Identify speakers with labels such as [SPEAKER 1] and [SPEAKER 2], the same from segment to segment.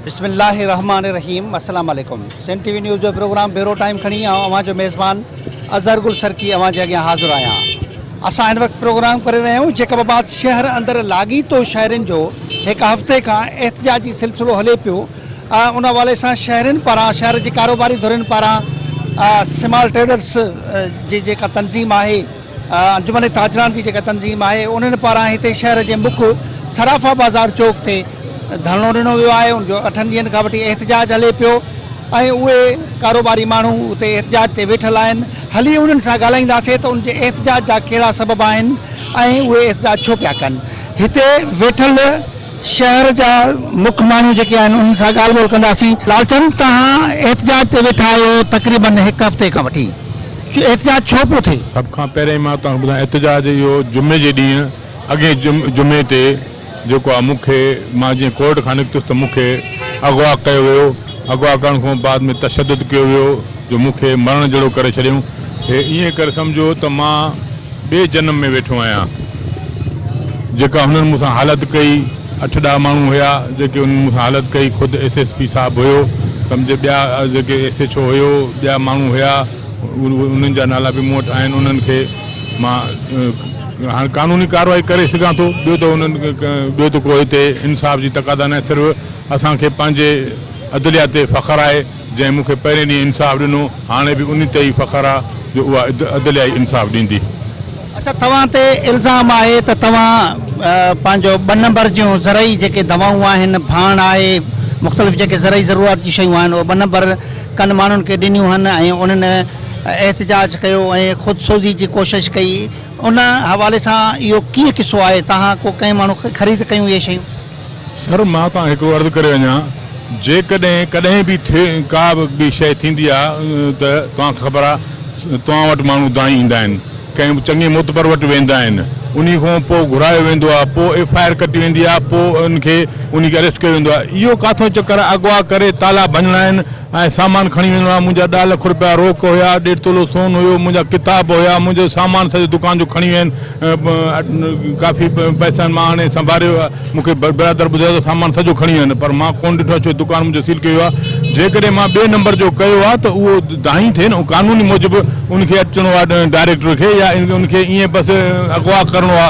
[SPEAKER 1] بسم الله الرحمٰن الرحيم السلام عليڪم سنڌ ٽي وي نيوز جو پروگرام بيورو ٽائيم کڻي آئون اوهان جو ميزبان اظهر گل سرڪي اوهان جي اڳيان حاضر آهيان اسان هن وقت پروگرام ڪري رهيا آهيون جيڪب آباد شهر اندر لاڳيتو شهرين جو هڪ هفتي کان احتجاجي سلسلو هلي پيو ان حوالي سان شهرين پاران شهر جي ڪاروباري ڌرين پاران سمال ٽريڊرس جي جيڪا تنظيم آهي انجمن تاجران جي جيڪا تنظيم آهي انهن پاران هتي شهر جي مک صرافا بازار چوڪ تي ڌرڻو ڏنو ويو آهي ان جو اٺن ڏينهن کان وٺي احتجاج هلي پيو ۽ اهي ڪاروباري ماڻهو اتي احتجاج تي ويٺل آهن هلي انهن سان ڳالهائينداسي ته ان جي احتجاج جا ڪهڙا سبب آهن ۽ اهي احتجاج ڇو پيا ڪن هتي ويٺل شهر جا مک ماڻهو جيڪي آهن انهن سان ڳالهه ٻولهه ڪنداسين. لالچند توهان احتجاج تي ويٺا آهيو تقريبن هڪ هفتي کان وٺي احتجاج ڇو پيو ٿئي؟ سڀ کان پهرين مان
[SPEAKER 2] توهان کي ٻڌان احتجاج اهو جمعي جي ڏينهن اڳين جمعي تي جيڪو آ مون کي مان جيئن ڪورٽ کان نڪتس ته مون کي اغوا ڪيو ويو. اغوا ڪرڻ کان بعد ۾ تشدد ڪيو ويو جو مون کي مرڻ جهڙو ڪري ڇڏيائون. هي ائين ڪري سمجهيو ته مان ٻئي جنم ۾ ويٺو آهيان. جيڪا هنن مون سان حالت ڪئي، اٺ ڏهه ماڻهو هيا جيڪي انهن مون سان حالت ڪئي، خود ايس ايس پي صاحب هيو، سمجهه ٻيا جيڪي ايس ايڇ او هيو، ٻيا ماڻهو هيا، انهن جا نالا به مون وٽ آهن، انهن کي مان هاڻ قانوني ڪارروائي ڪري سگهان ٿو، ٻيو ته انهن ٻيو ته ڪو هتي انصاف جي تقاضا ناهي صرف. اسان کي پنهنجي عدليه تي فخر آهي، جنهن مون کي پهرين ڏينهن انصاف ڏنو، هاڻي به انهي تي ئي فخر آ جو اها عدليه ئي انصاف ڏيندي. اڇا توهان
[SPEAKER 1] تي الزام آهي ته توهان پنهنجو ٻه نمبر جون زرعي جيڪي دوائون آهن، ڀاڻ آهي، مختلف جيڪي زرعي ضروريات جون شيون آهن اهي ٻه نمبر ڪن ماڻهن کي ڏنيون هن ۽ انهن احتجاج ڪيو ۽ خود سوزي جي ڪوشش ڪئي ان حوالي سان اهو ڪيئن قصو آهي توهان ڪو ڪنهن ماڻهو کي خريد ڪيون اهي شيون؟ سر، مان
[SPEAKER 2] تان هڪڙو عرض ڪري وڃان، جيڪڏهن ڪڏهن به ڪا به شيء ٿيندي آ ته توهان کي خبر آ توهان وٽ ماڻهو دانهين ايندا آهن، ڪنهن چڱي معتبر وٽ ويندا آهن، انهي کان پوء گهرايو ويندو آ، پوء ايف آء آر ڪٽي ويندي آ، پوء ان کي انهي کي اريسٽ ڪيو ويندو آ، اهو ڪاٿو چڪر آ، اغوا ڪري تالا ڀڃڻا آهن، ۽ سامان کڻي ويندڙ مان منهنجا ڏهه لک روپيا روڪ هيا، ڏيڍ تولو سون هيو، منهنجا ڪتاب هيا، منهنجو سامان سڄو دڪان جو کڻي وين ڪافي پئسن مان آڻي سنڀاريو هيا، مون کي برادر ٻڌايو ته سامان سڄو کڻي وين پر مان ڪونه ڏٺو ڇو دڪان منهنجو سيل ڪيو هيا، جيڪڏهن مان ٻئي نمبر جو ڪيو ها ته اهو دانهين ٿئي نه قانوني موجب ان کي اچڻو ها ڊائريڪٽر کي يا ان کي ائين بس اغوا ڪرڻو ها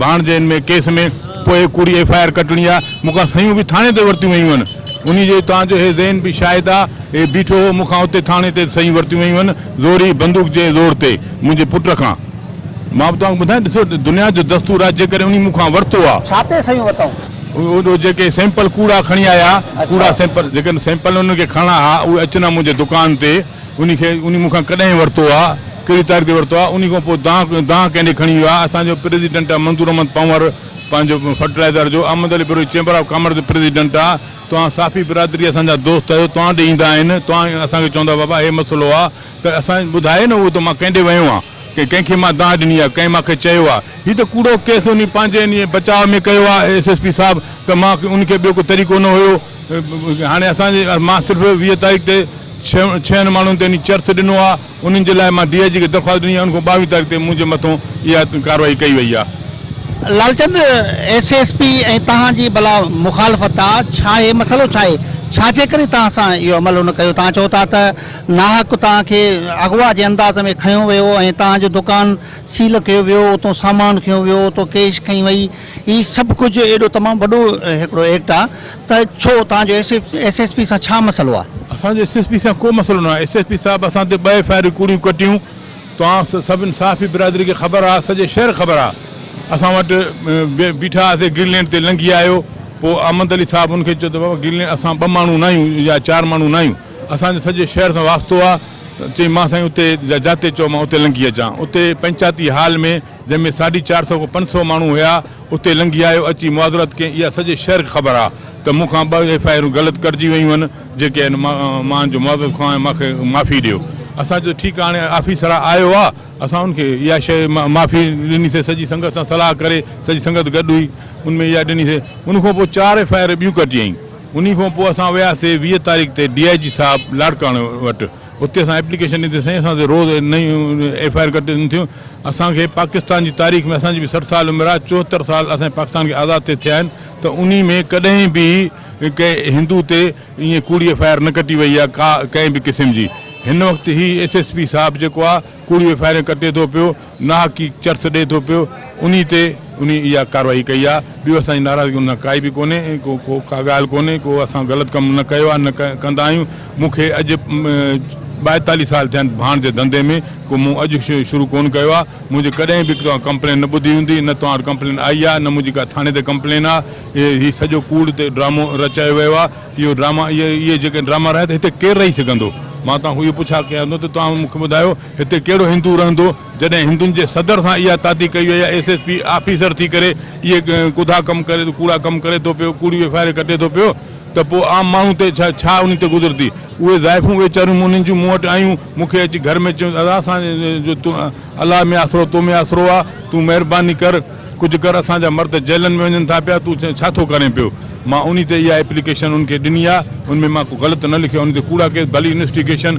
[SPEAKER 2] ڀاڻجي ان ۾ ڪيس ۾ پوء ڪهڙي ايف آء آر ڪٽڻي ها، مون کان صحيحون به ٿاڻي تي ورتيون ويون هن. انهيء جو اتان جو هي ذهن به شاهد آ. هي بيٺو هو، مون کان اتي ٿاڻي تي سهيون ورتيون ويون هن، زوري، بندوق جي زور تي، منهنجي پٽ کان. مان به توهان کي ٻڌايان، ڏسو، دنيا جو دستور آ، جيڪڏهن انهيء مون کان ورتو آ. ڇا تي سهيون
[SPEAKER 1] وتائون؟ اهي جيڪي
[SPEAKER 2] سيمپل ڪوڙا کڻي آيا ها، ڪوڙا سيمپل، جيڪڏهن سيمپل انهن کي کڻڻا ها، اهي اچن ها منهنجي دڪان تي، انهيء کي، انهيء مون کان ڪڏهن ورتو آ، ڪهڙي تاريخ تي ورتو آ، انهيء کان پوء دانهن، دانهن ڪنهن ڏي کڻي ويو آ، اسان جو پريزيڊنٽ آ منظور احمد پنهور، پنهنجو فرٽلائيزر جو Ahmed Ali Brohi chamber of commerce جو پريزيڊنٽ آ توهان صافي برادري اسان جا دوست آهيو توهان ڏي ايندا آهن توهان اسان کي چوندا بابا هي مسئلو آ ته اسان ٻڌايو نه اهو ته مان ڪنهن ڏي ويو آ ڪنهن ڪنهن کي مان دانهن ڏني آ ڪنهن مان کي چيو آ هي ته ڪوڙو ڪيس انهي پنهنجي انهي بچاء ۾ ڪيو آ ايس ايس پي صاحب ته مان انهي کي ٻيو ڪو طريقو نه هيو هاڻي اسان جي مان صرف ويهه تاريخ تي ڇهن ڇهن ماڻهن تي انهي چرس ڏنو آ انهن جي لاء مان ڊي آء جي کي درخواست ڏني آهي، ان کان ٻاويهه تاريخ تي منهنجي مٿان اها ڪارروائي ڪئي وئي آهي. لالچند،
[SPEAKER 1] ايس ايس پي ۽ توهان جي بلا مخالفت آ، ڇا هي مسئلو ڇا آهي؟ ڇا جي ڪري توهان سان اهو عمل نه ڪيو؟ توهان چئو ٿا ته ناحق توهان کي اغوا جي انداز ۾ کنيو ويو ۽ توهان جو دڪان سيل ڪيو ويو، اتان سامان کنيو ويو، اتان ڪيش کنئي وئي، هي سڀ ڪجهه ايڏو تمام وڏو هڪڙو ايڪٽ آ، ته ڇو توهان جو ايس ايس پي سان ڇا مسئلو آهي؟ اسان جو ايس ايس پي سان ڪو
[SPEAKER 2] مسئلو ناهي، ايس ايس پي صاحب اسان تي ٻه ايف آء آرون ڪوڙيون ڪٽيون، توهان سڀني صحافي برادري کي خبر آ، سڄي شهر کي خبر آ، اسان وٽ بيٺا هئاسي گرين لينڊ تي لنگهي آيو، پوء احمد علي صاحب ان کي چيو ته بابا گرين لينڊ اسان ٻه ماڻهو ناهيون يا چار ماڻهو ناهيون، اسان جو سڄي شهر سان واسطو آ، چيائين مان سائين اتي جاتي چئو مان اتي لنگهي اچان، اتي پنچاتي هال ۾. جنهن ۾ ساڍي چار سئو کان پنج سئو ماڻهو هيا، اتي لنگهي آيو، اچي معذرت ڪيائين، اها سڄي شهر کي خبر آ ته مون کان ٻه ايف آء آرون غلط ڪٽجي ويون هن، جيڪي آهن مان ان جو معذرت خواهان آهيان، مان کي معافي ڏيو. اسان چيو ٺيڪ آ، هاڻي آفيسر آيو آ، اسان ان کي اها شيء معافي ڏني سي، سڄي سنگت سان صلاح ڪري، سڄي سنگت گڏ هئي، ان ۾ اها ڏني سي، ان کان پوء چار ايف آء آر ٻيون ڪٽيائين، انهي کان پوء اسان وياسي ويهه تاريخ تي ڊي آء جي صاحب لاڙڪاڻي وٽ، اتي اسان ايپليڪيشن ڏني سائين اسان تي روز نيون ايف آء آر ڪٽجن ٿيون اسان کي پاڪستان جي تاريخ ۾ اسان جي به سٺ سال عمر آهي چوهتر سال اسان پاڪستان کي آزاد ٿئي ٿيا آهن ته انهي ۾ ڪڏهن به ڪنهن هندو تي ائين ڪوڙي ايف آء آر نه ڪٽي وئي آهي ڪا ڪنهن به قسم جي هن وقت هي ايس ايس پي صاحب جيڪو آهي ڪوڙيون ايف آء آرون ڪٽي ٿو پيو ناحقيق چرس ڏئي ٿو پيو انهي تي انهي اها ڪارروائي ڪئي آ ٻيو اسان جي ناراضگي ان سان ڪائي به ڪونهي ۽ ڪو ڪو ڪا ڳالهه ڪونهي ڪو اسان غلط ڪم نه ڪيو آ نه ڪندا آهيون مون کي اڄ ٻائيتاليهه سال ٿيا آهن ڀاڻ جي ڌنڌي ۾ ڪو مون اڄ شروع ڪون ڪيو آ منهنجي ڪڏهن به توهان ڪمپلين نه ٻڌي هوندي نه توهان وٽ ڪمپلين آئي آ نه منهنجي ڪا ٿاڻي تي ڪمپلين آ اهي هي سڄو ڪوڙ تي ڊرامو رچايو ويو آ اهو ڊراما اهي اهي جيڪي ڊراما رهيا ته هتي ڪير رهي سگهندو مان توهان کان اهو پڇا ڪيان ٿو ته توهان مون کي ٻڌايو هتي ڪهڙو هندو رهندو جڏهن هندن جي صدر سان اها تاتي ڪئي وئي آهي ايس ايس پي آفيسر ٿي ڪري اهي ڪڌا ڪم ڪري ٿو ڪوڙا ڪم ڪري ٿو پيو ڪوڙيون ايف آء آر ڪٽي ٿو پيو ته پوء عام ماڻهو تي ڇا ڇا انهي تي گذرندي اهي زائفون ويچاريون انهن جون مون وٽ آيون مون کي اچي گهر ۾ چيون ادا اسان جو الله ۾ آسرو تو ۾ آسرو آ تون مهرباني ڪر ڪجهه ڪر اسان جا مرد جيلن ۾ وڃن ٿا پيا تون ڇا ٿو ڪرين پيو مان انهي تي اها ايپليڪيشن انهن کي ڏني آ ان ۾ مان ڪو غلط نه لکيو آ انهي تي ڪوڙا ڪيس ڀلي انويسٽيگيشن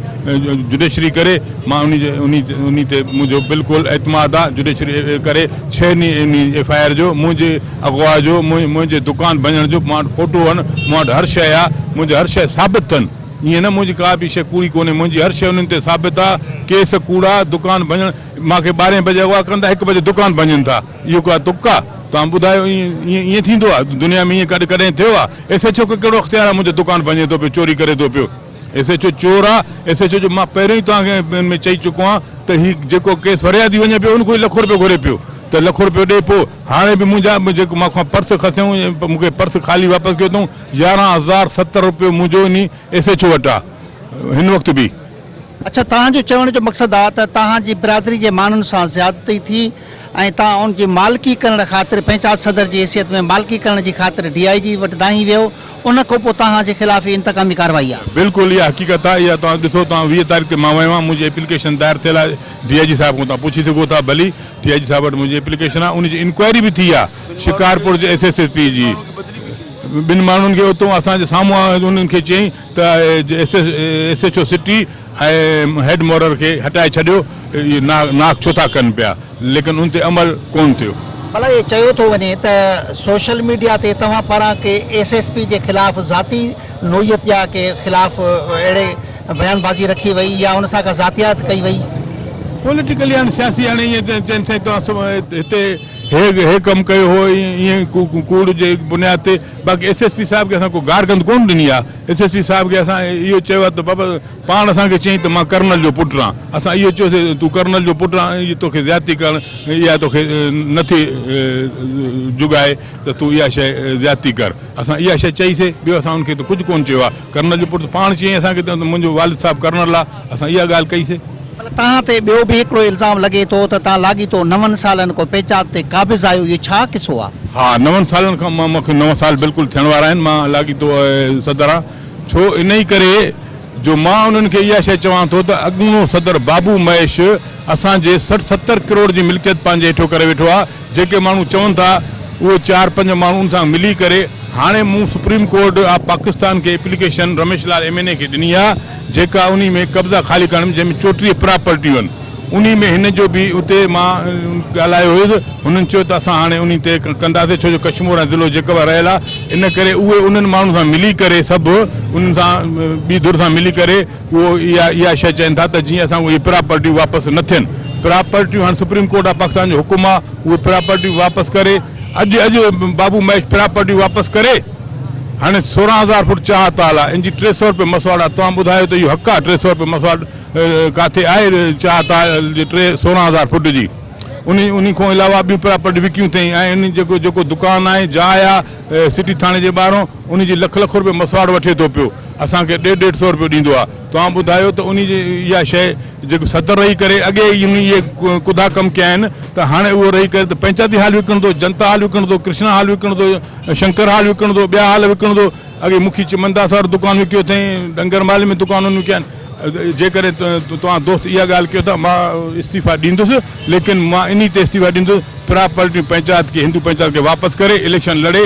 [SPEAKER 2] جڊيشري ڪري مان انهي تي منهنجو بلڪل اعتماد آ جڊيشري ڪري ڇهه ني انهي ايف آء آر جو منهنجي اغوا جو منهنجي دڪان ڀڃڻ جو مان وٽ فوٽو آهن مان وٽ هر شئي آ منهنجي هر شئي ثابت ٿن ائين نه منهنجي ڪا به شئي ڪوڙي ڪونهي منهنجي هر شئي انهن تي ثابت آ ڪيس ڪوڙا دڪان ڀڃڻ مان کي ٻارهين بجي اغوا ڪن ٿا هڪ بجي دڪان ڀڃن ٿا اهو ڪا تڪ آ توهان ٻڌايو ائين ائين ٿيندو آ دنيا ۾ ائين ڪڏهن ٿيو آ ايس ايڇ او کي ڪهڙو اختيار آ منهنجو دڪان ڀڃي ٿو پيو چوري ڪري ٿو پيو ايس ايڇ او چور آ ايس ايڇ او جو مان پهريون ئي توهان کي ان ۾ چئي چڪو آهيان ته هي جيڪو ڪيس فريادي وڃي پيو ان کان لکو رپيو گهري پيو ته لکو رپيو ڏي پو هاڻي به منهنجا جيڪو مان کان پرس کسيون مون کي پرس خالي واپس ڪيو اٿئون يارهن هزار ستر رپيو منهنجو انهي ايس ايڇ او وٽ آ هن وقت به اڇا توهان جو
[SPEAKER 1] چوڻ جو مقصد آ ته توهان جي برادري جي ماڻهن سان زيادتي ٿي ۽ توهان ان جي مالڪي ڪرڻ خاطر پنچات صدر جي حيثيت ۾ مالڪي ڪرڻ جي خاطر ڊي آء جي وٽ دانهين ويو ان کان پوء توهان جي خلاف هي انتقامي ڪارروائي آ. بلڪل اها حقيقت آ
[SPEAKER 2] اها توهان ڏسو توهان ويهه تاريخ تي مان ويو آهيان منهنجي ايپليڪيشن دائر ٿيل آ ڊي آء جي صاحب کان توهان پڇي سگهو ٿا ڀلي ڊي آء جي صاحب وٽ منهنجي ايپليڪيشن آ ان جي انڪوائري به ٿي آ شڪارپور جي ايس ايس پي جي ٻن ماڻهن کي اتو اسان جي سامهون آيو انهن کي چيائين ته S H O city ۽ head مورر کي هٽائي ڇڏيو اهي ناڪ ڇو ٿا ڪن پيا ليڪن ان تي عمل ڪون ٿيو. ڀلا اهي چيو ٿو
[SPEAKER 1] وڃي ته سوشل ميڊيا تي توهان پاران ڪي ايس ايس پي جي خلاف ذاتي نوعيت جا ڪي خلاف اهڙي بيان بازي رکي وئي يا ان سان ڪا ذاتيات ڪئي وئي. پوليٽيڪلي
[SPEAKER 2] هاڻي سياسي هاڻي ائين چين سائين توهان هتي هي ڪم ڪيو هو ائين ڪوڙ جي بنياد تي باقي ايس ايس پي صاحب کي اسان ڪو گار گند ڪونه ڏني آ ايس ايس پي صاحب کي اسان اهو چيو آ ته بابا پاڻ اسان کي چيائين ته مان ڪرنل جو پٽ آن اسان اهو چيو سي تون ڪرنل جو پٽ آن اهي توکي زيادتي ڪرڻ اها توکي نٿي جڳائي ته تون اها شئي زيادتي ڪر اسان اها شئي چئي سي ٻيو اسان ان کي ته ڪجهه ڪونه چيو آ ڪرنل جو پٽ پاڻ چيائين اسان کي ته منهنجو والد صاحب ڪرنل آ، اسان اها ڳالهه ڪئي سي. مطلب توهان تي ٻيو
[SPEAKER 1] به هڪڙو الزام لڳي ٿو ته توهان لاڳيتو نون سالن کان پيچات تي قابض آهيو، اهو ڇا قصو آ؟ ها نون سالن کان
[SPEAKER 2] مان مون کي نو سال بلڪل ٿيڻ وارا آهن مان لاڳيتو صدر آن ڇو انهي ڪري جو مان انهن کي اها شئي چوان ٿو ته اڳوڻو صدر بابو مهيش اسان جي سٺ ستر ڪروڙ جي ملڪيت پنهنجي هيٺيو ڪري ويٺو آ جيڪي ماڻهو چون ٿا اهي چار پنج ماڻهن سان ملي ڪري هاڻي مون سپريم ڪورٽ آف پاڪستان کي application Ramesh Lal M N A کي ڏني آ جيڪا انهي ۾ قبضا خالي ڪرڻ ۾ جنهن ۾ چوٽيهه پراپرٽيون آهن انهي ۾ هن جو به اتي مان ڳالهايو هيس هنن چيو ته اسان هاڻي انهي تي ڪنداسي ڇو جو ڪشمور ۽ ضلعو جيڪب رهيل آ ان ڪري اهي انهن ماڻهن سان ملي ڪري سڀ انهن سان ٻي ڌر سان ملي ڪري اهو اها اها شيء چين ٿا ته جيئن اسان اهي پراپرٽيون واپس نه ٿين پراپرٽيون هاڻي سپريم ڪورٽ آف پاڪستان جو حڪم آ اهي پراپرٽيون واپس ڪري اڄ اڄ بابو مهيش پراپرٽيون واپس ڪري هاڻي سورهن هزار فوٽ چاهه تال آ ان جي ٽي سؤ روپيه مسواڙ آ توهان ٻڌايو ته اهو حق آ ٽي سؤ روپيه مسواڙ ڪاٿي آهي چاهه تال جي ٽي سورهن هزار فوٽ جي ان ان کان علاوه ٻيون پراپرٽي وڪيون ٿئي ۽ ان جيڪو جيڪو دڪان آهي جاء آ سٽي ٿاڻي جي ٻاهران ان جي لک لک روپيه مسواڙ وٺي ٿو پيو اسان کي ڏيڍ ڏيڍ سئو روپيو ڏيندو آهي توهان ٻڌايو ته انهي جي اها شيء جيڪو صدر رهي ڪري اڳي ئي انهي اهي ڪڌا ڪم ڪيا آهن ته هاڻي اهو رهي ڪري ته پنچاتي هال وڪڻندو جنتا هال وڪڻندو ڪرشنا هال وڪڻندو شنڪر هال وڪڻندو ٻيا هال وڪڻندو اڳي مکي چمنداس وارو دڪان وڪيو اٿئين ڏنگر محلي ۾ دڪان انهن وڪيا آهن جيڪڏهن توهان دوست اها ڳالهه ڪيو ٿا مان استعيفا ڏيندس ليڪن مان انهي تي استعيفا ڏيندس پراپرٽيون پنچائت کي هندو پنچائت کي واپس ڪري اليڪشن لڙي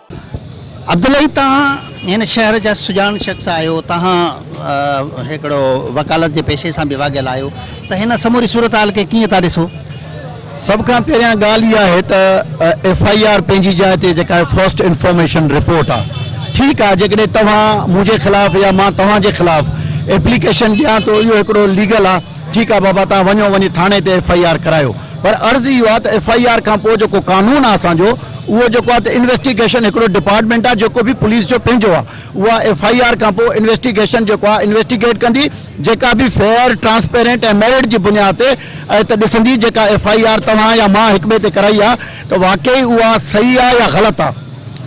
[SPEAKER 1] عبداللهي تهان هن شهر جا سڄاڻ شخص آهيو، تهان هڪڙو وڪالت جي پيشي سان به واڳيل آهيو ته هن سموري صورتحال کي ڪيئن ٿا ڏسو؟ سڀ کان
[SPEAKER 3] پهريان ڳالهه اها آهي ته ايف آء آر پنهنجي جاء تي جيڪا آهي فرسٽ انفارميشن رپورٽ آ ٺيڪ آ جيڪڏهن توهان منهنجي خلاف يا مان توهان جي خلاف ايپليڪيشن ڏيان ٿو اهو هڪڙو ليگل آ ٺيڪ آ بابا توهان وڃو وڃي ٿاڻي تي ايف آئي آر ڪرايو پر عرض اهو آ ته ايف آئي آر کان پوء جيڪو قانون آ اسان جو اهو جيڪو آ ته انويسٽيگيشن هڪڙو ڊپارٽمينٽ آ جيڪو به پوليس جو پنهنجو آ اها ايف آئي آر کان پوء انويسٽيگيشن جيڪو آ انويسٽيگيٽ ڪندي جيڪا به فيئر ٽرانسپيرنٽ ۽ ميرٽ جي بنياد تي اهي ته ڏسندي جيڪا ايف آئي آر توهان يا مان هڪٻئي تي ڪرائي آ ته واقعي اها صحيح آ يا غلط آ.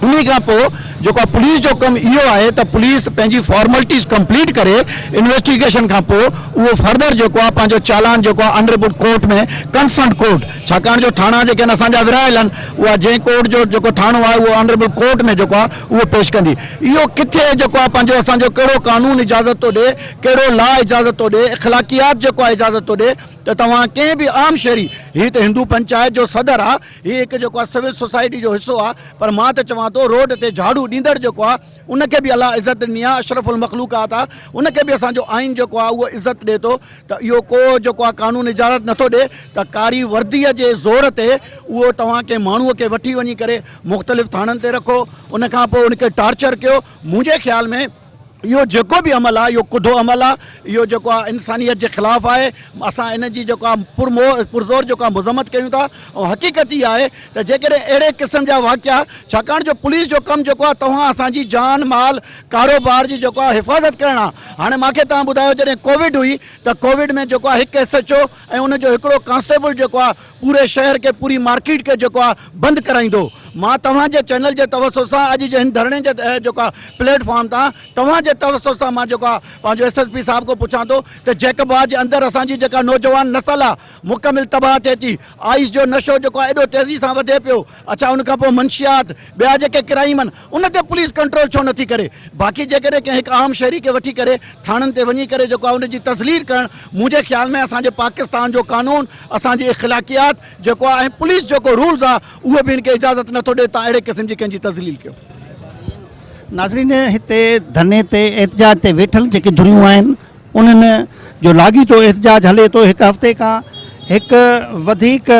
[SPEAKER 3] انهي کان پوء جيڪو آهي پوليس جو ڪم اهو آهي ته پوليس پنهنجي فارملٽيز ڪمپليٽ ڪري انويسٽيگيشن کان پوء اهو فردر جيڪو آهي پنهنجو چالان جيڪو آهي انريبوٽ ڪورٽ ۾ ڪنسرنڊ ڪورٽ ڇاڪاڻ جو ٿاڻا جيڪي آهن اسان جا ورهايل آهن اها جنهن ڪورٽ جو جيڪو ٿاڻو آهي اهو انريبوٽ ڪورٽ ۾ جيڪو آهي اهو پيش ڪندي اهو ڪٿي جيڪو آهي پنهنجو اسان جو ڪهڙو قانون اجازت ٿو ڏي ڪهڙو لا اجازت ٿو ڏي اخلاقيات جيڪو آهي اجازت ٿو ڏي ته توهان ڪنهن به عام شهري هي ته هندو پنچائت جو صدر آهي هي هڪ جيڪو آ سول سوسائٽي جو حصو آ پر مان ته چوان ٿو روڊ تي جهاڙو ڏيندڙ جيڪو آ ان کي به الله عزت ڏني آ اشرف المخلوقات آ ان کي به اسان جو آئين جيڪو آ اهو عزت ڏي ٿو ته اهو ڪو جيڪو آ قانون اجازت نٿو ڏي ته ڪاري وردي جي زور تي اهو توهان ڪنهن ماڻهو کي وٺي وڃي ڪري مختلف ٿاڻن تي رکو ان کان پوء ان کي ٽارچر ڪيو منهنجي خيال ۾ اهو جيڪو به عمل آهي اهو ڪڌو عمل آهي اهو جيڪو آهي انسانيت جي خلاف آهي اسان ان جي جيڪو آهي پر مو پرزور جيڪو آهي مذمت ڪيون ٿا ۽ حقيقت هي آهي ته جيڪڏهن اهڙي قسم جا واقعا ڇاڪاڻ جو پوليس جو ڪم جيڪو آهي توهان اسان جي جان مال ڪاروبار جي جيڪو آهي حفاظت ڪرڻ آهي هاڻي مانکي توهان ٻڌايو جڏهن ڪووڊ هئي ته ڪووڊ ۾ جيڪو آهي هڪ ايس ايڇ او ۽ ان جو هڪڙو ڪانسٽيبل جيڪو آ پوري شهر کي پوري مارڪيٽ کي جيڪو آ بند ڪرائيندو مان توهان جي چينل جي توسط سان اڄ جي هن ڌرڻي جي جيڪو آ پليٽ فارم تان توهان جي توسط سان مان جيڪو آ پنهنجو ايس ايس پي صاحب کان پڇان ٿو ته جيڪب آ جي اندر اسان جي جيڪا نوجوان نسل آ مڪمل تباهه ٿئي ٿي آئس جو نشو جيڪو آ ايڏو تيزي سان وڌي پيو اڇا ان کان پوء منشيات ٻيا جيڪي ڪرائيم ان تي پوليس ڪنٽرول ڇو نٿي ڪري؟ باقي جيڪڏهن ڪنهن هڪ عام شهري کي وٺي ڪري ٿاڻن تي وڃي ڪري جيڪو آهي ان جي تذليل ڪرڻ منهنجي خيال ۾ اسان جي پاڪستان جو قانون اسان جي اخلاقيات جيڪو آهي ۽ پوليس جيڪو رولز آهي اهو به هن کي اجازت نٿو ڏي تان اهڙي قسم جي ڪنهن جي تذليل ڪيو.
[SPEAKER 1] ناظرين هتي ڌرني تي احتجاج تي ويٺل جيڪي ڌريون آهن. انهن جو لاڳيتو احتجاج هلي ٿو، هڪ هفتي کان هڪ وڌيڪ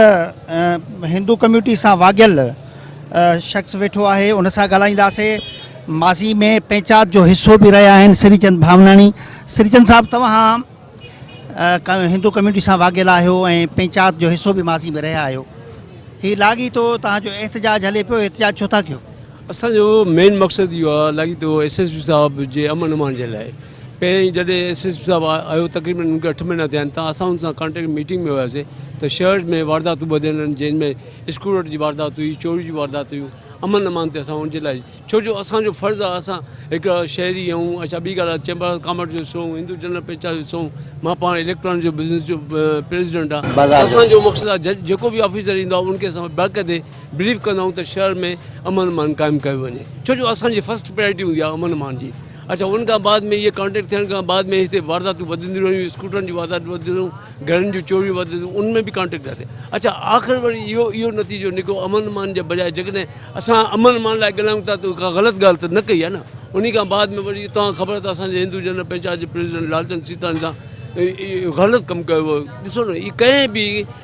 [SPEAKER 1] هندو ڪميونٽي سان واڳيل شخص ويٺو آهي ان سان ڳالهائينداسي ماضي ۾ پنچات جو حصو به رهيا آهن سري چند ڀاوناڻي سري چند صاحب توهان هندو ڪميونٽي سان واڳيل آهيو ۽ پنچات جو حصو به ماضي ۾ رهيا آهيو هي لاڳيتو توهان جو احتجاج هلي پيو احتجاج ڇو ٿا ڪيو اسانجو مين
[SPEAKER 4] مقصد اهو آهي لاڳيتو ايس ايس پي صاحب جي امن امان جي لاء پهرين جڏهن ايس ايس پي صاحب آيو تقريبن ان کي اٺ مهينا ٿيا آهن ته اسان ان سان ڪانٽيڪٽ ميٽنگ ۾ هياسي ته شهر ۾ وارداتون وڌيل آهن جن ۾ اسڪرو رٽ جي واردات هئي چوري جون واردات هيون امن امان تي اسان ان جي لاء ڇو جو اسان جو فرض آهي اسان هڪ شهري آهيون اڇا ٻي ڳالهه چيمبر آف ڪامرس جو حصو آهيون هندو جنرل پيچا جو حصو آهيون مان پاڻ اليڪٽرانڪ جو بزنس جو پريزيڊنٽ آهيان اسان جو مقصد آهي جج جيڪو به آفيسر ايندو آهي ان کي اسان باقاعدي بريف ڪندا آهيون ته شهر ۾ امن امان قائم ڪيو وڃي ڇو جو اسان جي فرسٽ پرائرٽي هوندي آهي امن امان جي اچا ان کان بعد ۾ اهي ڪانٽيڪٽ ٿيڻ کان بعد ۾ هتي وارداتون وڌنديون رهيون اسڪوٽرن جون وارداتون وڌنديون رهيون گهرن جون چوريون وڌنديون ان ۾ به ڪانٽيڪٽ ٿا ٿين اچا آخر وري اهو اهو نتيجو نڪو امن امان جي بجاء جيڪڏهن اسان امن امان لاء ڳالهايون ٿا ته ڪا غلط ڳالهه ته نه ڪئي آهي نه ان کان بعد ۾ وري توهان خبر ته اسانجي هندو جنرل پنچائت جي پريزيڊنٽ لالچند سيتاڻي سان غلط ڪم ڪيو ويو ڏسو نه هي ڪنهن به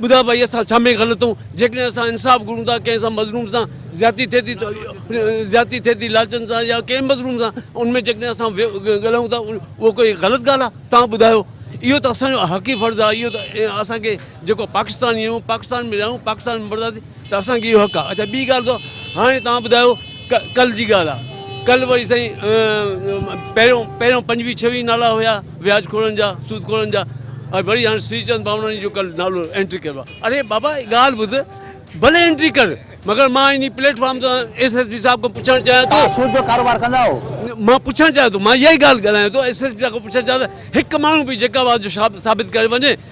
[SPEAKER 4] ٻڌاء ڀائي اسان ڇا ۾ غلطون جيڪڏهن اسان انصاف گهرون ٿا ڪنهن سان مظلوم سان زيادتي ٿئي ٿي زيادتي ٿئي ٿي لالچن سان يا ڪنهن مظلوم سان ان ۾ جيڪڏهن اسان ڳالهايون ٿا اهو ڪوئي غلط ڳالهه آهي تان ٻڌايو اهو ته اسانجو حقي فرض آهي اهو ته اسانکي جيڪو پاڪستاني آهيون پاڪستان ۾ رهيون پاڪستان ۾ ته اسان کي اهو حق آ. اڇا ٻي ڳالهه ته هاڻي توهان ٻڌايو ڪه ڪل جي ڳالهه آ ڪل وري سائين پهريون پهريون پنجويهه ڇويهه نالا هيا وياج خورن جا سود خورن جا ۽ وري هاڻي سري چند ڀاوناڻي جو ڪل نالو انٽري ڪيو آ اري بابا ڳالهه ٻڌ ڀلي انٽري ڪر مگر مان
[SPEAKER 1] انهي
[SPEAKER 4] پليٽ فارم تان ايس ايس پي صاحب
[SPEAKER 1] کان
[SPEAKER 4] پڇڻ چاهيان ٿو توهان
[SPEAKER 1] سود
[SPEAKER 4] جو ڪاروبار ڪندا آهو؟ مان پڇڻ چاهيان ٿو مان اها ئي ڳالهه ڳالهايان ٿو ايس ايس پي صاحب کان پڇڻ چاهيان ٿو هڪ ماڻهو به جيڪاب آ جو ثابت ڪري وڃي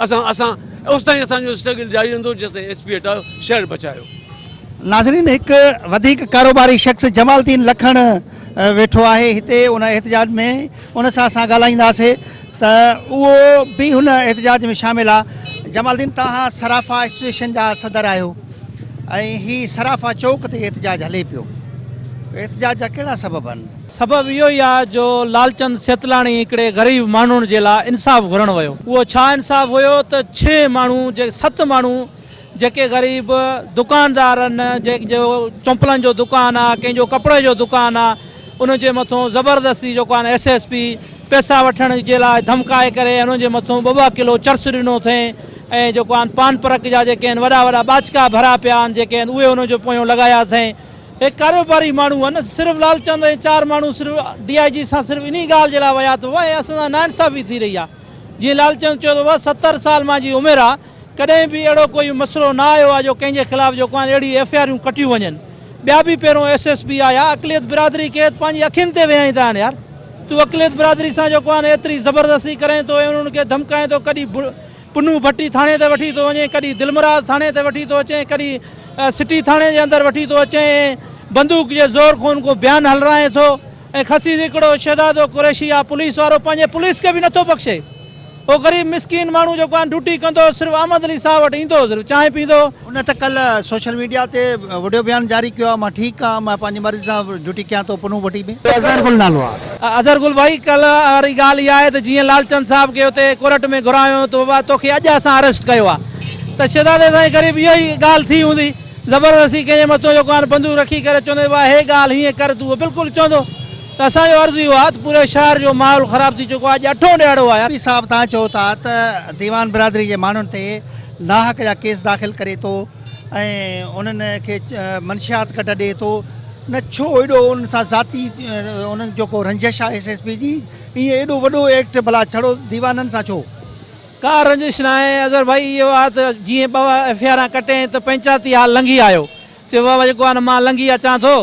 [SPEAKER 4] اسان اسان اوستائين اسان جو اسٽرگل جاري رهندو جيستائين ايس پي هٽايو شهر بچايو. ناظرين
[SPEAKER 1] هڪ وڌيڪ ڪاروباري شخص جمال الدين لکڻ ويٺو آهي هتي ان احتجاج ۾ ان سان اسان ڳالهائينداسي ته اهو به هن احتجاج ۾ شامل آ جمال الدين تهان صرافا ايسوسيئيشن جا صدر آهيو ۽ هي صرافا چوڪ تي احتجاج هلي پيو احتجاج جا ڪهڙا سبب آهن؟ سبب اهو ئي آهي
[SPEAKER 5] جو لالچند سيتلاڻي هڪڙي غريب ماڻهون جي لاء انصاف گهرڻ ويو. اهو ڇا انصاف هيو ته ڇهه ماڻهون جي ست ماڻهون جيڪي غريب دڪاندار آهن جنهن جو چمپلن جو دڪان آهي ڪنهن جو ڪپڙي جو دڪان آهي ان جي مٿون زبردستي جيڪو آهن ايس ايس پي پيسا وٺڻ جي لاء ڌمڪائي ڪري ان جي مٿون ٻه ٻه ڪلو چرس ڏنو اٿئين ۽ جيڪو آهن پان پرڪ جا جيڪي آهن وڏا وڏا ٻاچڪا ڀريا پيا آهن جيڪي آهن اهي ان جو پويون لڳايا اٿئين اهي ڪاروباري ماڻهو هئا نه صرف لالچند ۽ چار ماڻهو صرف ڊي آء جي سان صرف انهي ڳالهه جي لاء ويا ته اهي اسان سان ناانصافي ٿي رهي آهي جيئن لالچند چيو ته اها ستر سال مانجي عمر آهي ڪڏهن به اهڙو ڪوئي مسئلو نه آيو آهي جو ڪنهن جي خلاف جو ڪوان اهڙي ايف اي آريون ڪٽيون وڃن ٻيا به پهريون ايس ايس پي آيا اقليت برادري کي پنهنجي اکين تي ويهائين ٿا هاڻي يار تون اقليت برادري سان جو ڪوان ايتري زبردستي ڪرين ٿو ۽ انهن کي ڌمڪائين ٿو ڪڏي پنهون ڀٽي ٿاڻي تي وٺي ٿو وڃين، ڪڏهن دلمراد ٿاڻي تي وٺي ٿو اچين، ڪڏهن سٽي ٿاڻي جي اندر وٺي ٿو اچين ۽ بندوق جي زور کون ڪو بيان هلرائين ٿو ۽ خسي هڪڙو شهزادو قريشي آ پوليس وارو پنهنجي پوليس کي به نه ٿو بخشي. اهو غريب مسڪين ماڻهو جيڪو هاڻ ڊيوٽي ڪندو هو صرف احمد علي صاحب وٽ ايندو هو صرف چانهه پيندو هو. هن ته ڪلهه
[SPEAKER 1] سوشل ميڊيا تي وڊيو بيان جاري ڪيو آهي مان ٺيڪ آهيان مان پنهنجي مرضي سان ڊيوٽي ڪيان ٿو پنهون ڀٽي ۾. اظهر گل نالو آهي. اظهر گل ڀائي
[SPEAKER 5] ڪلهه واري ڳالهه اها آهي ته جيئن لالچند صاحب کي اتي ڪورٽ ۾ گهرايو ته بابا توکي اڄ اسان اريسٽ ڪيو آهي ته شهزادي سائين قريب اهو ئي ڳالهه ٿي هوندي زبردستي ڪنهن جي مٿو جيڪو آهن بندوق رکي ڪري چوندي بابا هي ڳالهه هيئن ڪر تون اهو بلڪل چوندو ته اسان جو عرض اهو آهي ته پوري شهر جو ماحول خراب ٿي چڪو آهي اڄ اٺون ڏهاڙو آهي. ڀٽي صاحب توهان چئو ٿا
[SPEAKER 1] ته ديوان برادري جي ماڻهن تي ناحق جا ڪيس داخل ڪري ٿو ۽ انهن کي منشيات ڪڍ ڏئي ٿو نه ڇو ايڏو انهن سان ذاتي انهن جو ڪو رنجش آهي ايس ايس پي جي ايئن ايڏو وڏو ايڪٽ ڀلا ڇڙو ديوانن سان ڇو. ڪا
[SPEAKER 5] رنجش ناهي اظهر ڀائي اهو آ ته جيئن ٻه ايف اي آران ڪٽين ته پنچاتي هال لنگهي آيو چي وهه جيڪو آ نه مان لنگهي اچان ٿو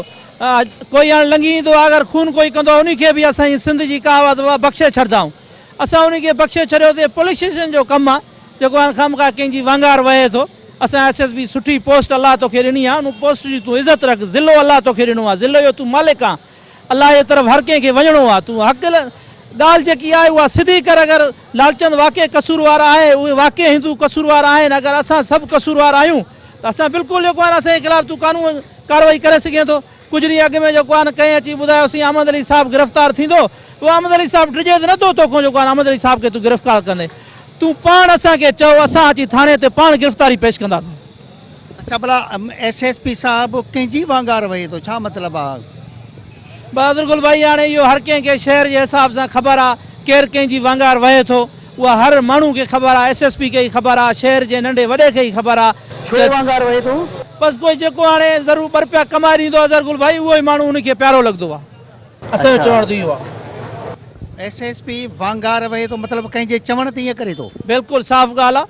[SPEAKER 5] ڪوئي هاڻ لنگهي ايندو آ اگر خون ڪوئي ڪندو آ انهي کي به اسان جي سنڌ جي ڪهاوت وهه بخشي ڇڏدائون. اسان انهن کي بخشي ڇڏيو ته هي پوليس اسٽيشن جو ڪم آ جيڪو هاڻ خامخواه ڪنهن جي وانگار وهي ٿو اسان ايس ايس بي سٺي پوسٽ الله توکي ڏني آ ان پوسٽ جي تون عزت رک ضلعو الله توکي ڏنو آ ضلعي جو تون مالڪ آ الله جي طرف هر ڪنهن کي وڃڻو آ تون حق ڳالهه جيڪي آهي اها سڌي ڪر اگر لالچند واقعي قصوروار آهي اهي واقعي هندو قصوروار آهن اگر اسان سڀ قصوروار آهيون ته اسان بلڪل جيڪو آهي اسان جي خلاف تون قانون ڪارروائي ڪري سگهين ٿو ڪجهه ڏينهن اڳ ۾ جيڪو آن ڪنهن اچي ٻڌايو سين احمد علي صاحب گرفتار ٿيندو پوء احمد علي صاحب ڊڄي ته نه ٿو توکون جيڪو آن احمد علي صاحب کي تون گرفڪار ڪندين تون پاڻ اسان کي چئو اسان اچي ٿاڻي تي پاڻ گرفتاري پيش ڪنداسين. اڇا ڀلا
[SPEAKER 1] ايس ايس پي صاحب ڪنهن جي وانگار وهي ٿو ڇا مطلب آ. بهادر
[SPEAKER 5] گل ڀائي هاڻي اهو هر ڪنهن کي شهر جي حساب سان خبر آ ڪير ڪنهن جي وانگار وهي ٿو اها هر ماڻهو کي خبر آ ايس ايس پي کي ئي خبر آ شهر جي ننڍي وڏي کي ئي خبر آ ته. ڇو وانگار وهي ٿو.
[SPEAKER 1] بس ڪوئي جيڪو
[SPEAKER 5] هاڻي ضرور ٻه رپيا ڪمائي ڏيندو اظهر گل ڀائي اهو ئي ماڻهو ان کي پيارو لڳندو آ اسان جو چوڻ ته اهو آ. ايس ايس پي
[SPEAKER 1] وانگار وهي ٿو مطلب ڪنهن جي چوڻ تي ائين ڪري ٿو. بلڪل صاف ڳالهه
[SPEAKER 5] آ.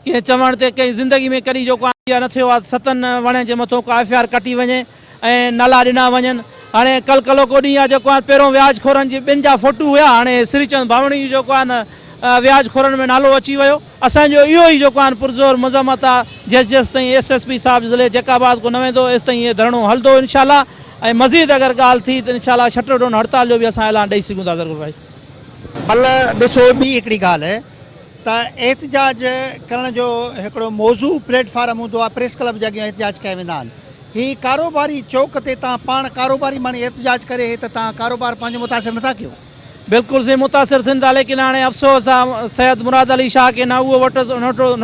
[SPEAKER 5] ڪنهن چوڻ تي ڪنهن زندگي ۾ ڪڏهن جو ڪو آئيڊيا نه ٿيو آهي ته ستن وڻين جي مٿو ڪا ايف آء آر ڪٽي وڃي ۽ نالا ڏنا وڃن هاڻي ڪل ڪلوڪو ڏينهن آهي جيڪو آهي پهريون وياج خورن جي ٻن جا فوٽو هيا هاڻي سري چند ڀاوڻي جو جيڪو آهي نه وياج خورن ۾ نالو اچي ويو اسان جو اهو ئي جيڪو آهي پرزور مذمت آهي جيس جيس تائين ايس ايس پي صاحب ضلعي جيڪب آباد ڪو نه ويندو ايس تائين هي ڌرڻو هلندو انشاء الله ۽ مزيد اگر ڳالهه ٿي ته انشاء الله شٽر ڊون هڙتال جو به اسان اعلان ڏئي سگهون ٿا ظرغور ڀائي. بله
[SPEAKER 1] ڏسو ٻي هڪڙي ڳالهه. ته احتجاج ڪرڻ جو هڪڙو موزو پليٽ فارم هوندو آهي پريس ڪلب جي اڳيان احتجاج ڪيا ويندا آهن هي ڪاروباري چوڪ تي تان پاڻ ڪاروباري ماڻي احتجاج ڪري هي ته تان ڪاروبار پنهنجو متاثر نٿا ڪيو. بلڪل سائين
[SPEAKER 5] متاثر ٿين ٿا ليڪن هاڻي افسوس آ سيد مراد علي شاهه کي نه اهو وٽس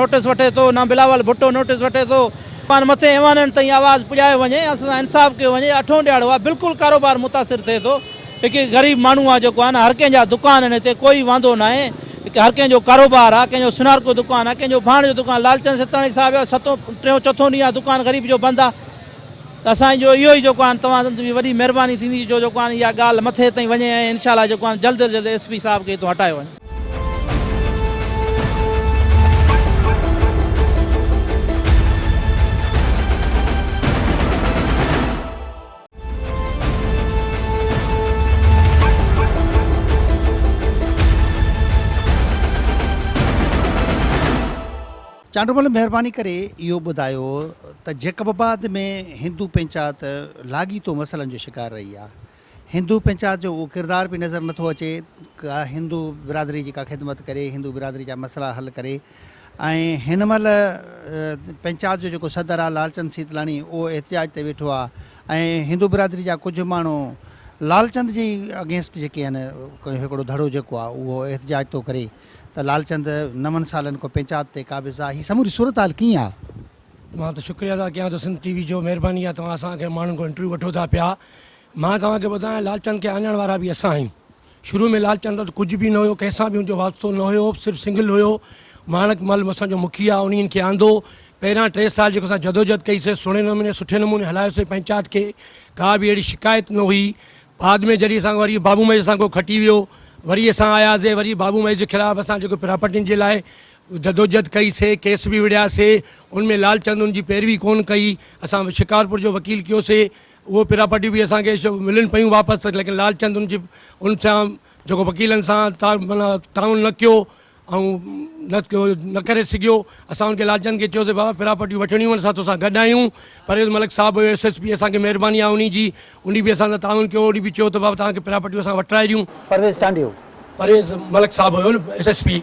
[SPEAKER 5] نوٽس وٺي ٿو نه بلاول ڀٽو نوٽس وٺي ٿو مان مٿين ايوانن تائين آواز پڄايو وڃي اسان سان انصاف ڪيو وڃي اٺون ڏياڙو آ بلڪل ڪاروبار متاثر ٿئي ٿو. هڪ غريب ماڻهو آ جيڪو آ نه هر ڪنهن جا دڪان آهن هتي ڪوئي واندو ناهي هر ڪنهن جو ڪاروبار آ ڪنهن جو سونارڪو دڪان آ ڪنهن جو ڀاڻ جو دڪان لالچند سيتاڻي صاحب جو ستون ٽيون چوٿون ڏينهن آ دڪان غريب جو بند آ ته اسان جو اهو ئي جيڪو آهن توهان جي وڏي مهرباني ٿيندي جو جيڪو آهن اها ڳالهه مٿي تائين وڃي ۽ انشاء الله جيڪو آهن جلد جلد ايس پي صاحب کي هتو هٽايو وڃي.
[SPEAKER 1] چانڊومل مهرباني ڪري اهو ٻڌايو ته جيڪب آباد ۾ هندو پنچات لاڳيتو مسئلن جو شڪار رهي آهي هندو پنچات جو اهو ڪردار به نظر نٿو اچي ڪا هندو برادري جي ڪا خدمت ڪري هندو برادري جا مسئلا حل ڪري ۽ هن مهل پنچات جو جيڪو صدر آ لالچند سيتلاڻي اهو احتجاج تي ويٺو آ ۽ هندو برادري جا ڪجهه ماڻهو لالچند جي اگينسٽ جيڪي آهن هڪڙو ڌڙو جيڪو آ اهو احتجاج ٿو ڪري ته لالچند نون سالن کان پنچات تي قابض آ هي سموري صورتحال ڪيئن آ؟ مان ته
[SPEAKER 6] شڪريا ادا ڪيان ٿو سنڌ ٽي وي جو مهرباني آ توهان اسان کي ماڻهن کان انٽرويو وٺو ٿا پيا مان توهان کي ٻڌايان لالچند کي آڃڻ وارا به اسان آهيون شروع ۾ لالچند وٽ ڪجهه به نه هيو، ڪنهن سان به هن جو واسطو نه هيو، صرف سنگل هيو. ماڻڪ مل اسان جو مکيه، انهي هن کي آندو. پهريان ٽي سال جيڪو اسان جدوجهد ڪئي سي سهڻي نموني سٺي نموني هلايو سي پنچات کي ڪا به اهڙي شڪايت نه هئي. بعد ۾ جڏهن اسان کي وري بابو مئي اسان کان کٽي ويو وري اسان آياسي وري بابو مئي جي خلاف اسان جيڪو پراپرٽين جي لاء جدوجهد ڪئي سي ڪيس به وڙهياسي ان ۾ لالچند ان جي پيروي ڪونه ڪئي اسان شڪارپور جو وڪيل ڪيو سي اهي پراپرٽيون به اسان کي ملن پيون واپس ته ليڪن لالچند ان جي ان سان جيڪو وڪيلن سان تا معنيٰ تعاون نه ڪيو ۽ نه ڪري سگهيو اسان ان کي لالچند کي چيوسي بابا پراپرٽيون وٺڻيون آهن اسان توسان گڏ آهيون پرويز ملڪ صاحب هيو ايس ايس پي اسان کي مهرباني آهي ان جي ان به اسان سان تعاون ڪيو ان به چيو ته بابا توهان کي پراپرٽيون اسان وٺرائي ڏيون پرويز چانڊيو.
[SPEAKER 1] پرويز ملڪ صاحب
[SPEAKER 6] هيو ايس ايس پي.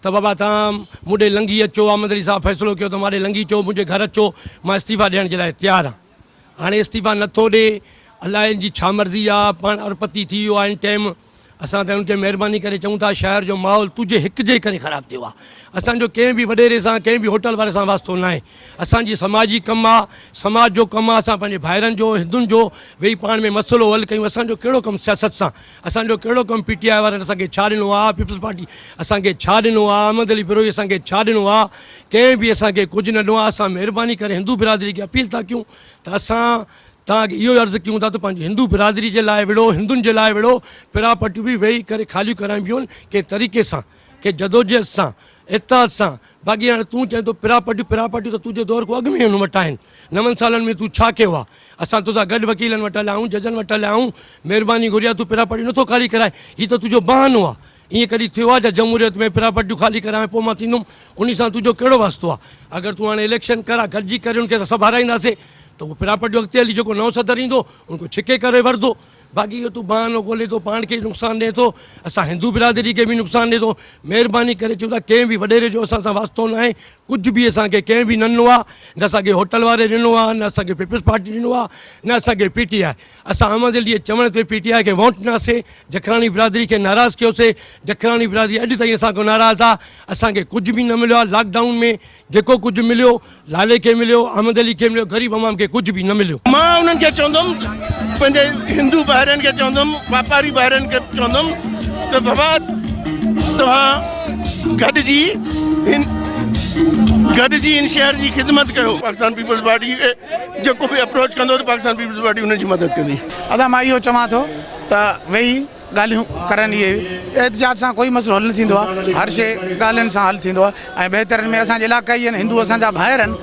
[SPEAKER 6] ته بابا توهان مون ڏي لنگهي اچو، احمد علي صاحب فيصلو ڪيو ته مان ڏي لنگهي اچو، منهنجي گهر اچو، مان استعيفا ڏيڻ جي لاء تيار آهيان. هاڻي استعيفا نه ٿو ڏي، الاء ان جي ڇا مرضي آ، پاڻ اربپتي ٿي ويو آ ان ٽيم، اسان ته ان کي مهرباني ڪري چئون ٿا شهر جو ماحول تنهنجي هڪ جي ڪري خراب ٿيو آ، اسان جو ڪنهن به وڏيري سان، ڪنهن به هوٽل واري سان واسطو ناهي، اسان جي سماجي ڪم آ، سماج جو ڪم آ، اسان پنهنجي ڀائرن جو، هندن جو ويهي پاڻ ۾ مسئلو حل ڪيون، اسان جو ڪهڙو ڪم سياست سان. اسان جو ڪهڙو ڪم پي ٽي آء وارن اسان کي ڇا ڏنو آ پيپلز پارٽي اسان کي ڇا ڏنو آ احمد علي بروهي اسان کي ڇا ڏنو آ ڪنهن به اسان کي ڪجهه نه ڏنو آ اسان مهرباني ڪري هندو برادري کي اپيل ٿا ڪيون ته اسان توهان کي اهو عرض ڪيون ٿا ته پنهنجي هندو برادري جي لاء وڙهو هندن جي لاء وڙهو پراپرٽيون به ويهي ڪري خاليون ڪرائبيون ڪنهن طريقي سان کي جدوجهد سان، اتحاد سان، باقي هاڻي تون چئين ٿو پراپرٽيون، پراپرٽيون ته تنهنجي دور کان اڳ ۾ ئي هن وٽ آهن، نون سالن ۾ تون ڇا ڪيو آهي؟ اسان توسان گڏ وڪيلن وٽ هليا آهيون، ججن وٽ هليا آهيون، مهرباني گهري آهي، تون پراپرٽيون نٿو خالي ڪرائين، هي ته تنهنجو بهانو آهي، ائين ڪڏهن ٿيو آهي ڇا جمهوريت ۾ پراپرٽيون خالي ڪرايان پوء مان ٿيندم، انهي سان تنهنجو ڪهڙو واسطو آهي، اگر تون هاڻي اليڪشن ڪراء، گڏجي ڪريون کي اسان سڀ هارائينداسين ته اهو پراپرٽيون اڳتي هلي جيڪو نئون صدر ايندو ان کان ڇڪي ڪري ورندو، باقي اهو تون بهانو ڳولي ٿو پاڻ کي ئي نقصان ڏئين ٿو اسان هندو برادري کي به نقصان ڏئين ٿو مهرباني ڪري چون ٿا ڪنهن به وڏيري جو اسان سان واسطو نه آهي ڪجهه به اسان کي ڪنهن به نه ڏنو آهي نه اسان کي هوٽل واري ڏنو آهي نه اسان کي پيپلز پارٽي ڏنو آهي نه اسان کي پي ٽي آء اسان احمد علي جي چوڻ تي پي ٽي آء کي ووٽ ڏناسي جکراڻي برادري کي ناراض ڪيوسي جکراڻي برادري اڄ تائين اسان کان ناراض آهي اسان کي ڪجهه به نه مليو آهي لاڪ ڊائون ۾ جيڪو ڪجهه مليو، لالي کي مليو، احمد علي کي مليو، غريب عوام کي ڪجهه به نه مليو. مان انهن کي چوندم،
[SPEAKER 7] پنهنجي هندو ڀائرن کي چوندم، واپاري ڀائرن کي چوندم ته بابا توهان گڏجي هن گڏجي هن شهر جي خدمت ڪيو. پاڪستان پيپلز پارٽي کي جيڪو به اپروچ ڪندو ته پاڪستان پيپلز پارٽي ان جي مدد ڪندي. ادا مان اهو چوان
[SPEAKER 8] ٿو ته ويهي. ڳالهيون ڪرڻ اهي احتجاج سان ڪوئي مسئلو حل نه ٿيندو آهي هر شيء ڳالهين سان حل ٿيندو آهي ۽ بهترين ۾ اسان جي علاقائي آهن هندو اسان جا ڀائر آهن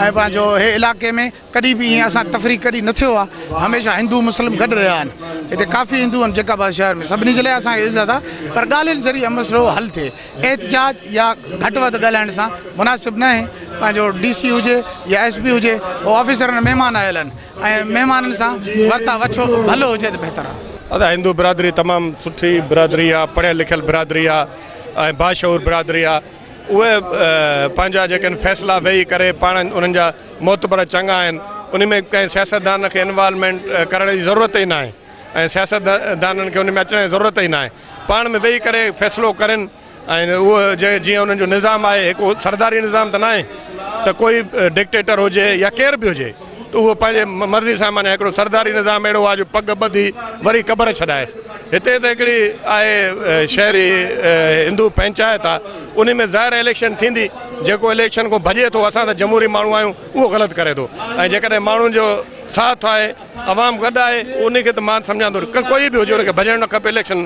[SPEAKER 8] ۽ پنهنجو هي علاقي ۾ ڪڏهن به ايئن اسان تفريق ڪڏهن نه ٿيو آهي هميشه هندو مسلم گڏ رهيا آهن هتي ڪافي هندو آهن جيڪب آباد شهر ۾ سڀني جي لاء اسان کي عزت آهي پر ڳالهين ذريعي مسئلو حل ٿئي احتجاج يا گهٽ وڌ ڳالهائڻ سان مناسب نه آهي پنهنجو ڊي سي هجي يا ايس پي هجي هو آفيسرن مهمان آيل آهن ۽ مهمانن سان ورتاء وٺو ڀلو هجي ته بهتر آهي. ادا هندو برادري
[SPEAKER 9] تمام سٺي برادري آ پڙهيل لکيل برادري آ ۽ باشعور برادري آ اهي پنهنجا جيڪي آهن فيصلا ويهي ڪري پاڻ انهن جا معتبر چڱا آهن انهي ۾ ڪنهن سياستدان کي انوالومينٽ ڪرڻ جي ضرورت ئي ناهي ۽ سياستدانن کي انهي ۾ اچڻ جي ضرورت ئي ناهي پاڻ ۾ ويهي ڪري فيصلو ڪرين ۽ اهو جيئن انهن جو نظام آهي هڪ سرداري نظام ته ناهي ته ڪوئي ڊڪٽيٽر هجي يا ڪير به هجي ته اهو پنهنجي مرضي سان معنيٰ هڪڙو سرداري نظام اهڙو آهي جو پڳ ٻڌي وري قبر ڇڏائيس هتي ته هڪڙي آهي شهري هندو پنچائت آهي انهي ۾ ظاهر اليڪشن ٿيندي جيڪو اليڪشن کان ڀڄي ٿو اسان ته جمهوري ماڻهو آهيون اهو غلط ڪري ٿو ۽ جيڪڏهن ماڻهن جو ساٿ آهي عوام گڏ آهي انهي کي ته مان سمجهان ٿو ڪوئي به هجي ان کي ڀڄڻ نه کپي اليڪشن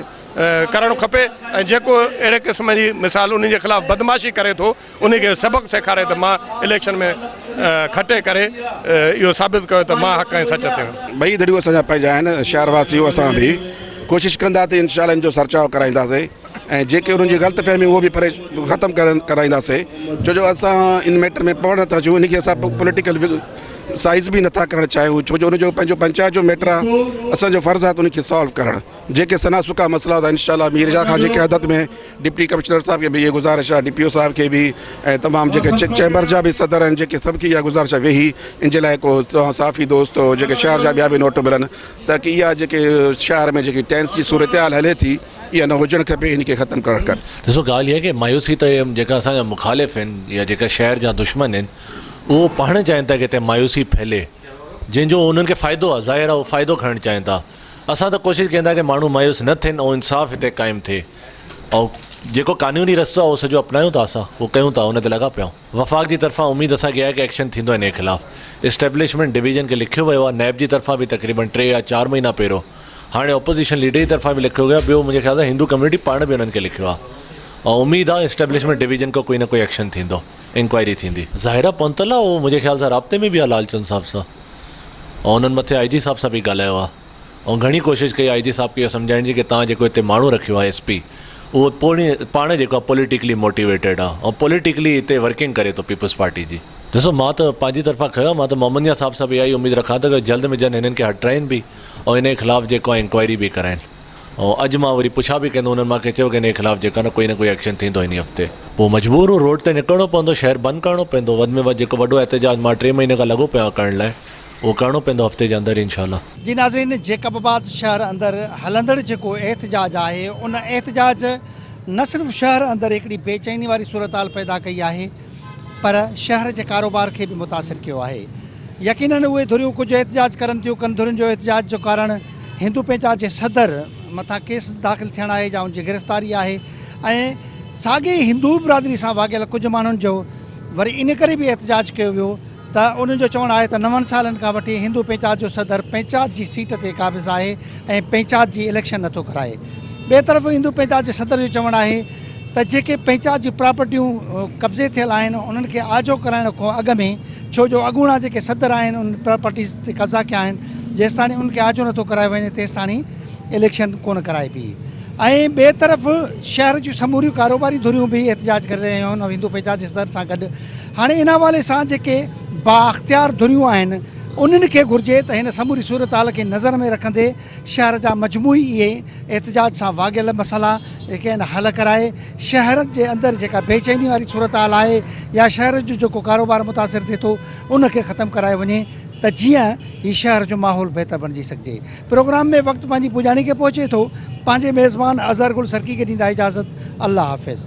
[SPEAKER 9] ڪرڻ کپي ۽ جيڪو اهڙي قسم جي مثال انهن جي خلاف بدمعاشي ڪري ٿو انهن کي سبق سيکاري ته مان اليڪشن ۾ کٽي ڪري اهو ثابت ڪيو ته مان حق ۽ سچ تي هيم. ٻئي ڌريون اسان جا
[SPEAKER 10] پنهنجا آهن شهر واسيون اسان به ڪوشش ڪندا ته انشاء الله ان جو سرچاء ڪرائينداسين ۽ جيڪي انهن جي غلط فهميون اهو به پري ختم ڪرائينداسين ڇو جو اسان ان ميٽر ۾ پوڻ نٿا اچون ان کي اسان پوليٽيڪل سائز به نٿا ڪرڻ چاهيون ڇو جو ان جو پنهنجو پنچائت جو ميٽر آهي اسان جو فرض آهي ته ان کي سالو ڪرڻ. جيڪي سنا سڪا مسئلا ٿا انشاء الله ميرجا خان جي قيادت ۾ ڊپٽي ڪمشنر صاحب کي به اها گذارش آهي ڊي پي او صاحب کي به ۽ تمام جيڪي چيمبر جا به صدر آهن جيڪي سڀ کي اها گذارش آهي ويهي ان جي لاء ڪو توهان صحافي دوست جيڪي شهر جا ٻيا به نوٽ ملن تاڪي اها جيڪي شهر ۾ جيڪي ٽينس جي صورتحال هلي ٿي اها نه هجڻ کپي ان کي ختم ڪرڻ کپي ڏسو ڳالهه اها ڪي
[SPEAKER 11] مايوسي ته جيڪا اسان جا مخالف آهن يا جيڪا شهر جا دشمن آهن اهو پاڻ چاهين ٿا ڪي هتي مايوسي ڦهلي جنهن جو انهن کي فائدو آهي ظاهر آهي اهو فائدو کڻڻ چاهين ٿا اسان ته ڪوشش ڪين ٿا ڪه ماڻهو مايوس نه ٿين ۽ انصاف هتي قائم ٿئي ۽ جيڪو قانوني رستو آهي اهو سڄو اپنايون ٿا اسان اهو ڪيون ٿا ان تي لڳا پيا آهيون وفاق جي طرفان اميد اسان کي آهي ڪه ايڪشن ٿيندو انهي خلاف اسٽيبلشمينٽ ڊويزن کي لکيو ويو آهي نيب جي طرفان به تقريبن ٽي يا چار مهينا پهريو هاڻي اپوزيشن ليڊر جي طرفان به لکيو ويو آهي ٻيو منهنجي خيال سان هندو ڪميونٽي پاڻ به انهن کي لکيو آهي ۽ اميد آهي اسٽيبلشمينٽ ڊويزن کان ڪوئي نه ڪوئي ايڪشن ٿيندو انڪوائري ٿيندي ظاهرا پنتل آهي اهو منهنجي خيال سان رابطي ۾ به آهي لالچند صاحب سان. ۽ انهن مٿي آء جي صاحب سان به ڳالهايو آهي ۽ گهڻي ڪوشش ڪئي آء جي صاحب کي اهو سمجهائڻ جي ڪي توهان جيڪو هتي ماڻهو رکيو آهي ايس پي اهو پوڻي پاڻ جيڪو آهي پوليٽيڪلي موٽيويٽيڊ آهي ۽ پوليٽيڪلي هتي ورڪنگ ڪري ٿو پيپلز پارٽي جي. ڏسو مان ته پنهنجي طرفان کهيو آهي مان ته محمد ميان صاحب سان به اها ئي اميد رکان ٿو ڪه جلد ۾ جلد هنن کي هٽرائين به ۽ انهي خلاف جيڪو آهي انڪوائري به ڪرائين. ۽ اڄ مان وري پڇا به ڪندو انهن مان ڪنهن چيو ڪه انهي خلاف جيڪا نه ڪوئي نه ڪوئي ايڪشن ٿيندو انهي هفتي پوء مجبور هو روڊ تي نڪرڻو پوندو شهر بند ڪرڻو پوندو وڌ ۾ وڌ جيڪو وڏو احتجاج مان ٽي مهيني کان لڳو پيو آهيان ڪرڻ لاء اهو ڪرڻو پوندو هفتي جي اندر انشاء الله. جي ناظرين جيڪب
[SPEAKER 1] آباد شهر اندر هلندڙ جيڪو احتجاج آهي ان احتجاج نه صرف شهر اندر هڪڙي بي چيني واري صورتحال پيدا ڪئي آهي پر شهر جي ڪاروبار کي به متاثر ڪيو آهي. يقينن اهي ڌريون ڪجهه احتجاج ڪرن ٿيون، ڪن ڌرين جو احتجاج جو ڪارڻ هندو پينچا جي صدر مٿان ڪيس داخل ٿيڻ آهي يا ان جي گرفتاري آهي ۽ ساڳي هندو برادري سان واڳيل ڪجهه ماڻهن جو وري ان ڪري به احتجاج ڪيو ويو ته انهن جو چوڻ آهي ته نون سالن کان وٺي هندو پنچات جو صدر پنچات جي سيٽ تي قابض آهي ۽ پنچات جي اليڪشن نٿو ڪرائي ٻئي طرف هندو پنچات جي صدر جو چوڻ آهي ته جيڪي پنچات جون پراپرٽيون قبضي ٿيل آهن انهن کي آجو ڪرائڻ کان اڳ ۾ ڇو جو اڳوڻا جيڪي صدر آهن انهن پراپرٽيز تي قبضا ڪيا آهن جيستاڻي انهن کي آجو نٿو ڪرايو وڃي تيستاڻي اليڪشن ڪونه ڪرائبي ۽ ٻئي طرف شهر جون سموريون ڪاروباري ڌريون به احتجاج ڪري رهيون آهن ۽ هندو پنچات جي صدر سان گڏ هاڻي ان حوالي سان جيڪي بااختيار ڌريون آهن انهن کي گهرجي ته هن سموري صورتحال کي نظر ۾ رکندي شهر جا مجموعي اهي احتجاج سان واڳيل مسئلا جيڪي آهن حل ڪرائي شهر جي اندر جيڪا بي چيني واري صورتحال آهي يا شهر جو جيڪو ڪاروبار متاثر ٿئي ٿو ان کي ختم ڪرايو وڃي ته جيئن هي شهر جو ماحول بهتر بڻجي سگهجي. پروگرام ۾ وقت پنهنجي پڄاڻي کي پهچي ٿو پنهنجي ميزبان اظهر گل سرڪي کي ڏيندا اجازت الله حافظ.